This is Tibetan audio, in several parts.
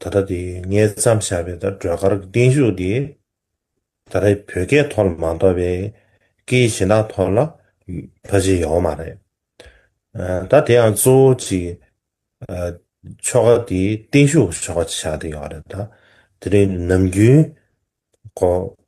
ད་ལྟ་དེ་ངས་བརྩམས་བཞག་པའི་སྒྲོལ་དཀར་གྱི་བརྟན་བཞུགས་དེ། ད་ལྟ་བོད་སྐད་ཐོག་ལ་མ་འདོགས་པའི་སྐད་ཡིག་གཞན་དག་ཐོག་ལ་ཕ་ཇེ་ཡོང་མ་རེད། ད་དེ་ཡང་གཙོ་བོ་གཅིག་ཆོ་ག་དེ་བརྟན་བཞུགས་ཆོ་ག་བྱ་དེ་ཡོང་རེད་ད། དེ་རིང་ནམ་རྒྱུན།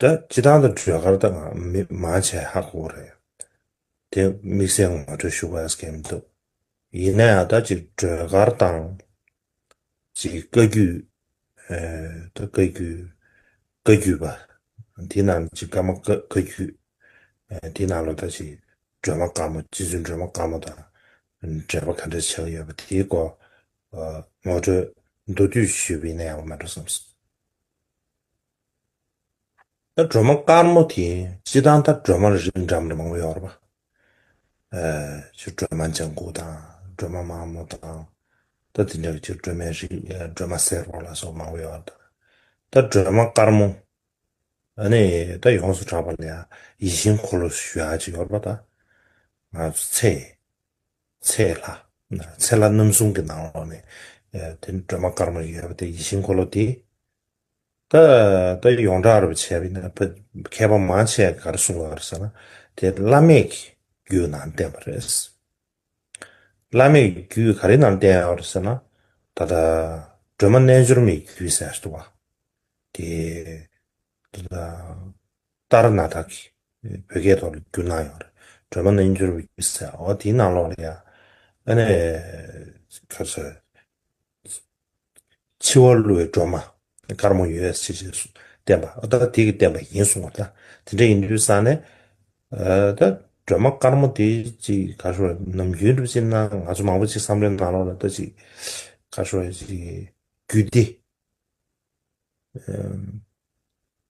ད་ཇི་ལྟར་དང་གྲོས་སྐར་ད་ང་མི་མ་བྱས་ཧ་གོ་རེད། དེ་དམིགས་བསལ་ངོ་སྤྲོད་ཞུ་དགོས་ཀྱི་མི་འདུག་ཡིན་ན་ཡང་ད་ཅིག་གྲོས་སྐར་དང། ཅིག་བཀའ་རྒྱུད། ད་བཀའ་རྒྱུད། བཀའ་རྒྱུད་པ། དེ་རྣམས་ཅིག་བཀའ་མ་བཀའ་རྒྱུད། དེ་རྣམས་ལ་ད་ཅིག་སྒྲོལ་མ་དཀར་མོ་རྗེ་བཙུན་སྒྲོལ་མ་དཀར་མོ་དང་འབྲེལ་བ་ག་འདྲ་བྱེད་ཀྱི་ཡོད་པ་དེའི་སྐོར་ངོ་སྤྲོད་མདོར་བསྡུས་ཞུས་པ་ཡིན་ན་ཡག་པོ་མེད་འགྲོ་བསམ་སོང། ད་སྒྲོལ་མ་དཀར་མོ་དེ་སྤྱི་དང་ད་སྒྲོལ་མ་རིགས་འདྲ་མང་པོ་ཡོད་རེད་པ། ཆུ་སྒྲོལ་མ་ལྗང་གུ་དང་སྒྲོལ་མ་དམར་མོ་དང། ད་དེ་འདྲ་ཆུ་སྒྲོལ་མའི་རིགས་སྒྲོལ་མ་སེར་པོ་ལ་སོགས་མང་པོ་ཡོད་རེད། ད་སྒྲོལ་མ་དཀར་མོ་ནི་ད་ཡོངས་སུ་གྲགས་པ་ལ་ཡིད་བཞིན་འཁོར་ལོ་ཞུ་ཡག་ཅིག་ཡོད་རེད་པ། ད་ང་ཚོ་ཚེ་ཚེ་ལྷ་ཚེ་ལྷ་རྣམ་གསུམ་གྱི་ནང་ལོགས་ནས་དེ་སྒྲོལ་མ་དཀར་མོ་ཡོད་པ་དེ་ཡིད་བཞིན་འཁོར་ལོ་དེ་ད་ད་ཡོངས་གྲགས་རུ་བྱས་པས་ན་མཁས་པ་མང་ཆེ་བས་གར་གསུངས་པ་རེད་ཟེར་ན་དེ་བླ་མེད་ཀྱི་རྒྱུད་ནང་བསྟན་པ་རེད། བླ་མེད་ཀྱི་རྒྱུད་ག་རེ་ནང་བསྟན་ཡོད་རེད་ཟེར་ན་ད་ལྟ་སྒྲོལ་མ་རྣལ་འབྱོར་མའི་རྒྱུད་ཟེར་བ་དེ་དེ་ལ་ལྟར་ན་དག་གིས་བོད་སྐད་ཐོག་ལ་བསྒྱུར་གནང་ཡོད་རེད་སྒྲོལ་མ་རྣལ་འབྱོར་མའི་རྒྱུད་ཟེར་བ་འོ་དེའི་ནང་ལོགས་ལ་ཡང་ཨ་ནེ་ག་རེ་ཟེར། འཆི་བ་བསླུ་བའི་སྒྲོན་མ་དཀར་མོ་ཡོད་ཅེས་བསྟན་པ་ཨ་ཏཱ་དྷི་ཀས་བསྟན་པ་ཡིན་གསུངས་པ་ལྟར་དེ་འདྲ་ཡིན་དུས་བསམ་ནས། ད་སྒྲོན་མ་དཀར་མོ་དེ་ཅིག་ག་ཤོད་ནམ་རྒྱུན་སྒྲུབ་བྱེད་ན་ང་ཚོ་མང་པོ་ཅིག་བསམ་བློའི་ནང་ལོགས་ལ་ལྟ་ཅིག་ག་ཤོད་ཅིག་རྒྱུད་སྡེ།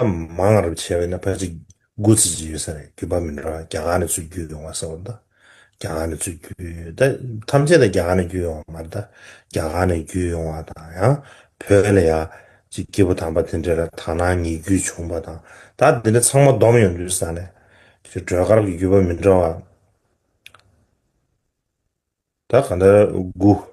ཨ་མང་རབ་བྱས་པས་ན་ཕ་གཅིག་དགུ་བརྩི་གཅིག་ཡོད་ས་རེད་རྒྱུད་པ་མི་འདྲ་བ་རྒྱ་གར་ནས་ཚུར་བརྒྱུད་ཡོང་བ་ས་བ་དང་རྒྱ་གར་ནས་ཚུར་བརྒྱུད་ད་ཐམས་ཅད་ད་རྒྱ་གར་ནས་བརྒྱུད་ཡོང་བ་མ་རེད་ད་རྒྱ་གར་ནས་བརྒྱུད་ཡོང་བ་དང་ཡང་བོད་ལ་ཡ་གཅིག་སྐྱེས་བུ་དམ་པ་དེ་འདྲས་ལ་དག་སྣང་ཉིད་བརྒྱུད་བྱུང་བ་དང་ད་དེ་འདྲས་ཚང་མ་བསྡོམས་ཡོང་དུས་ས་ནས་ཁྱོད་སྒྲོལ་དཀར་གྱི་རྒྱུད་པ་མི་འདྲ་བ་ད་ག་འདྲ་དགུ།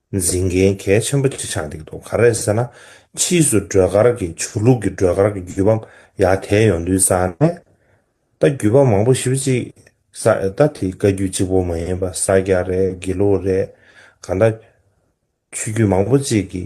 འཛིན་མཁན་གལ་ཆེན་པོ་གཅིག་ཆགས་འདུག་དོ་ག་རེད་ཟེར་ན་ཕྱིས་སུ་སྒྲོལ་དཀར་གྱི་ཆོས་ལུགས་ཀྱི་སྒྲོལ་དཀར་གྱི་བརྒྱུད་པ་ཡར་དེད་ཡོང་དུས་ས་གནས་ད་བརྒྱུད་པ་མང་པོ་ཞིབ་གཅིག་ས་ད་དེ་བཀའ་བརྒྱུད་གཅིག་པོ་མ་ཡིན་པ་ས་སྐྱ་རེད་དགེ་ལུགས་རེད་གང་ད་ཆོས་བརྒྱུད་མང་པོ་གཅིག་གི།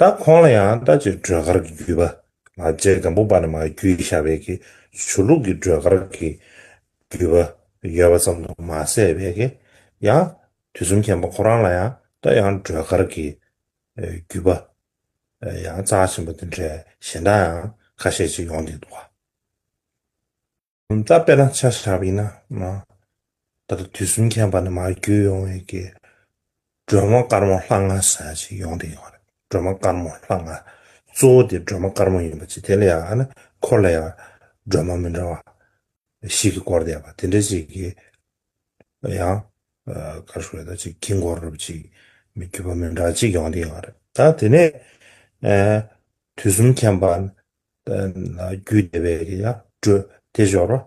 ད་ཁོང་ལ་ཡང་ལྟ་ཅི་སྒྲོལ་དཀར་གྱི་རྒྱུད་པ་མ་བརྗེད་སྒམ་པོ་པ་ན་མ་རྒྱུད་ཞྭ་བད་ཀྱི་ཆུ་ལུག་གི་སྒྲོལ་དཀར་གྱི་རྒྱུད་པ་ཡོད་པ་ཙམ་དུ་མ་ཟད་བད་ཀྱི་ཡང་དུས་གསུམ་མཁྱེན་པ་ཁོ་རང་ལ་ཡང་ལྟ་ཡང་སྒྲོལ་དཀར་གྱི་རྒྱུད་པ་ཡང་རྩ་ཆེན་པོ་འདི་འདྲའི་གཞན་དག་ཡང་ཁ་ཤས་ཅིག་ཡོང་འདུག་འདུག་ག། ད་དཔེ་དང་ཆ་བཞག་པ་ཡིན་ན། ད་ལྟ་དུས་གསུམ་མཁྱེན་པ་ནི་མར་བརྒྱུད་ཡོང་བའི་སྒྲོལ་མ་དཀར་མོ་ལྷ་ང་ཟེར་བ་ཞིག་ཡོང་དེ་ཡོང་རེད། སྒྲོལ་མ་དཀར་མོ་ལྷ་ང། གཙོ་བོ་དེ་སྒྲོལ་མ་དཀར་མོ་ཡིན་པ་ཅི་དེ་ལ་ཡང་ན་འཁོར་ལ་ཡང་སྒྲོལ་མ་མི་འདྲ་བ་ཞིག་གིས་བསྐོར་བསྡད་པ་དེ་འདྲ་ཞིག་གིས་ཡང། གར་ཞུ་བ་དང་ཅིག་དཀྱིལ་འཁོར་རུབ་ཅིག་མི་བརྒྱུད་པ་མི་འདྲ་བ་ཅིག་ཡོང་དེ་ཡོང་རེད། ད་དེ་ནས། དུས་གསུམ་མཁྱེན་པ་རྒྱུད་སྡེ་པའི་ཡང་སྒྲོས་དེ་སྦྱོར།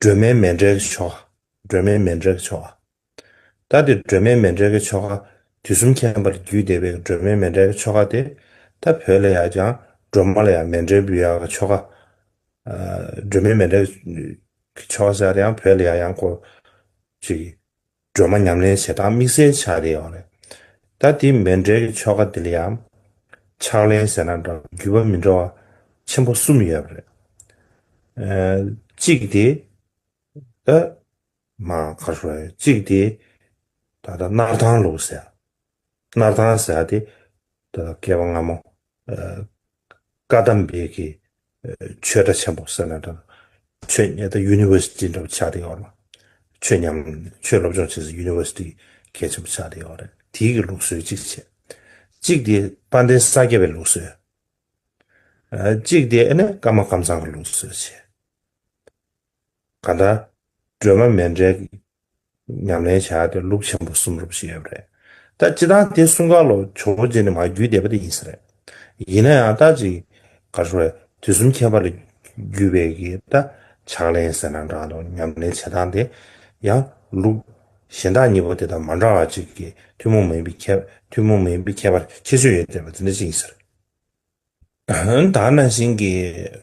སྒྲོལ་མའི་མེ་འབྲས་ཀྱི་ཆོ་ག། སྒྲོལ་མའི་མེ་འབྲས་ཀྱི་ཆོ་ག། ལྟ་སྟེ་སྒྲོལ་མའི་མེ་འབྲས་ཀྱི་ཆོ་ག། དུས་གསུམ་མཁྱེན་པར་རྒྱུད་སྡེ་པའི་སྒྲོལ་མའི་མེ་འབྲས་ཀྱི་ཆོ་ག་སྟེ། ལྟ་བུ་ལ་ཡང་ཀྱང་སྒྲོལ་མ་ལ་ཡང་མེ་འབྲས་བུ་ཡང་གི་ཆོ་ག། སྒྲོལ་མའི་མེ་འབྲས་ཀྱི་ཆོ་ག་སྦྱར་ཡང་བུ་ལ་ཡང་ཡང་སྐོར་ཅིག། སྒྲོལ་མ་ཉམས་ལེན་བྱེད་སྟངས་དམིགས་བསལ་ཆགས་རེད་ཨོ་རེད། ད་དེ་མེད་འབྲེལ་གྱི་ཆོ་ག་འདི་ལ་ཡང། ཕྱག་ལེན་ཟེར་ན་འདྲ་བརྒྱུད་པ་མི་འདྲ་བ་ཆེན་པོ་གསུམ་ཡོད་རེད། གཅིག་དེ། ད། མ་ག་ཧྲོའི་གཅིག་དེ། ད་ད་སྣར་ཐང་ལུགས་ཟེར། སྣར་ཐང་ཟེར་བ་དེ་འདི་ལ་སྐལ་བ་སྔ་མོ། བཀའ་གདམས་འབེལ་གྱི་ཆོས་གྲྭ་ཆེན་པོ་ཟེར་ན་འདྲ། ཆོས་ཉན་ད University འདྲ་པོ་ཆགས་བསྡད་ཡོད་ལ། ཆོས་ཉམས་ཆོས་སློབ་སྦྱོང་བྱེད་སའི University གལ་ཆེན་པོ་ཆགས་བསྡད་ཡོད་རེད། དེའི་གི་ལུགས་སྲོལ་གཅིག་བྱས། གཅིག་དེ་དཔལ་ལྡན་ས་སྐྱ་པའི་ལུགས་སྲོལ། གཅིག་དེ་ཨ་ནི་ཀརྨ་ཀམ་ཚང་གི་ལུགས་སྲོལ་བྱས། གང་ལྟར། སྒྲོལ་མ་མེ་འབྲས་ཀྱིས་ཉམས་ལེན་བྱས་ཏེ་ལུགས་ཆེན་པོ་གསུམ་རུབ་བཞིན་ཡོད་པ་རེད། ད་སྤྱི་དང་དེ་གསུམ་ག་ལོ་ཇོ་བོ་རྗེ་ནས་མ་བརྒྱུད་བསྡད་པ་དེ་ཡིན་ས་རེད། ཡིན་ན་ཡང་ད་ཅི་ག་ཞོར་ལས་དུས་གསུམ་ཁྱད་པར་ལས་བརྒྱུད་པའི་གི་ད་ཕྱག་ལེན་ཟེར་ན་འདྲ་འདུག་ཉམས་ལེན་བྱེད་སྟངས་དེ་ཡང་ལུགས་གཞན་དག་གཉིས་པོ་དེ་དང་མ་འདྲ་བ་ཅིག་གིས་ཐུན་མོང་མིན་པའི་ཁྱད་ཐུན་མོང་མིན་པའི་ཁྱད་པར་ཁྱད་ཆོས་ཡོད་བསྡད་པ་དེ་འདྲ་ཅིག་ཡིན་ས་རེད། ད་ནང་བཞིན་གྱི།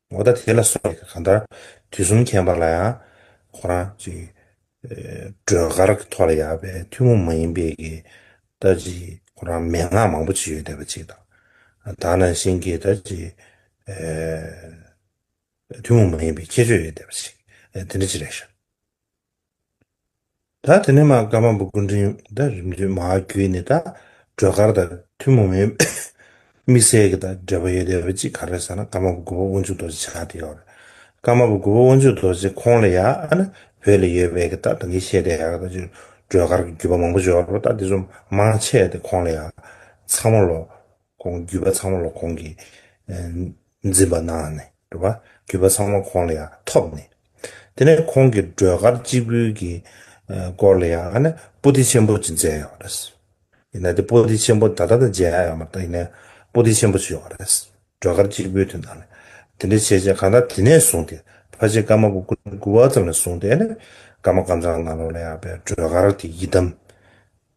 འོ་ད་དེ་ལ་སོགས་ཡི་གེ་གང་ལྟར་དུས་གསུམ་མཁྱེན་པ་ལ་ཡང། ཁོ་རང་ཅིག། སྒྲོལ་དཀར་གྱི་ཐོག་ལ་ཡག་པའི་ཐུན་མོང་མ་ཡིན་པའི་གི། ད་ཅིག་ཁོ་རང་མན་ངག་མང་པོ་ཅིག་ཡོད་བསྡད་པ་ཅིག་དང། དག་ན་གཤེན་གྱི་ད་ཅིག། ཐུན་མོང་མ་ཡིན་པའི་ཁྱད་ཆོས་ཡོད་བསྡད་པ་ཅིག་དེ་འདྲ་ཅིག་རེད་བཞག། ད་དེ་ནས་མ་སྐར་མ་འབུ་སྐུ་འཕྲེང་བསྟར་རིམ་བརྒྱུད་མ་བརྒྱུད་ནས་ད་སྒྲོལ་དཀར་དང་ཐུན་མོང་མའི་དམིགས་བསལ་གྱི་ད་འབྲེལ་བ་ཡོད་བསྡད་པ་གཅིག་ག་རེ་ཟེར་ན་སྐར་མ་འབུ་དགུ་པ་དབོན་ཆུ་རྡོ་རྗེ་ཆགས་བསྡད་ཡོད་རེད། སྐར་མ་འབུ་དགུ་པ་དབོན་ཆུ་རྡོ་རྗེ་ཁོང་ལ་ཡ་ཨ་ན་བོད་ལ་ཡོད་པའི་གི་ད་ད་གིན་ཤེས་བསྡད་ཡ་གི་ད་ཅིག་སྒྲོལ་དཀར་གྱི་བརྒྱུད་པ་མང་པོ་འབྱོར་བ་ད་དེ་ཚོ་མང་ཆེ་བསྡད་ཁོང་ལ་ཡ་ཚང་མ་ལོ་ཁོང་བརྒྱུད་པ་ཚང་མ་ལ་ཁོང་གིས་འཛིན་པ་གནང་ནས་འགྲོ། བརྒྱུད་པ་ཚང་མ་ཁོང་ལ་ཡང་ཐོབ་ནས། དེ་ནས་ཁོང་གི་སྒྲོལ་དཀར་སྤྱི་བོའི་གི་སྐོར་ལ་ཡང་ནི་པོ་ཏི་ཆེན་པོ་ཅིག་མཛད་ཡོད་པ་རེད། ཡིན་ན་དེ་པོ་ཏི་ཆེན་པོ་ད་ལྟ་དང་མཇལ་ཡོད་མ་རེད་ཡིན་ན་པོ་ཏི་ཆེན་པོ་ཅིག་ཡོད་པ་རེད། སྒྲོལ་དཀར་སྤྱི་བོའི་དུས་ནང་ལ་དེ་འདྲའི་བྱས་རྗེས་གང་དག་དེ་ནས་བཟུང་སྟེ་ཕ་ཆེ་ཀརྨ་པོ་སྐུ་ལས་བསྐུལ་བ་ཙམ་ལས་བཟུང་སྟེ་ནི་ཀརྨ་ཀམ་ཚང་སྔ་ལོ་ལ་ཡང་བའི་སྒྲོལ་དཀར་དེ་ཡི་དམ་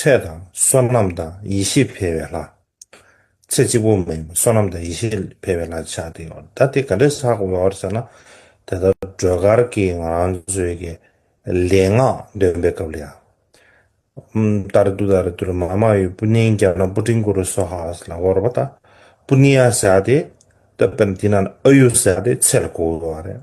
ཚེ་དང་བསོད་ནམས་དང་ཡེ་ཤེས་འཕེལ་བའི་ལྷ། ཚེ་གཅིག་པུ་མིན་པར་བསོད་ནམས་དང་ཡེ་ཤེས་འཕེལ་བའི་ལྷ་ཆགས་ཏེ་ཡོད། ད་དེ་ག་འདྲས་ཆགས་ཡོད་ཟེར་ན། དེ་ལྟར་སྒྲོལ་དཀར་གྱིས་ང་རང་ཚོའི་གི་ལས་ངག་འདོན་པའི་སྐབས་ལ་ཡང། ལྟར་དུ་ལྟར་དུ་ར་མ་མ་ཡོས་པུ་ནིང་རྒྱ་ནག་པུ་ཀྲིང་གུ་རུ་སོ་ཧཱས་ལ་བོར་བ་ད་པུ་ནི་ཡ་ཟེར་ཏེ། ད་པུ་ནི་དེ་ན་ཨ་ཡུ་ཟེར་ཏེ་ཚེ་ལ་གོ་བ་རེད།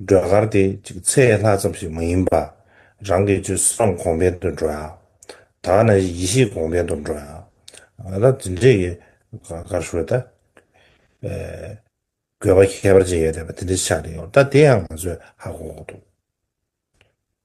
སྒྲོལ་དཀར་དེ་གཅིག་ཚེ་ལྷ་ཙམ་ཞིག་མ་ཡིན་པར། རང་གི་ཆོས་བསམ་གོང་འཕེལ་དུ་འགྲོ་ཡ། ད་ནི་ཡེ་ཤེས་གོང་འཕེལ་དུ་འགྲོ་ཡ། ད་ཇི་འདྲའི་ཡི་གར་ཤོད་ད། དགོས་པ་ཁྱད་པར་ཅན་ཡོད་དེ་བ་དེ་འདྲའི་ཆ་ནས་ཡོང་ད་དེ་ཡང་ང་ཚོས་ཧ་གོ་གོ་འདུག།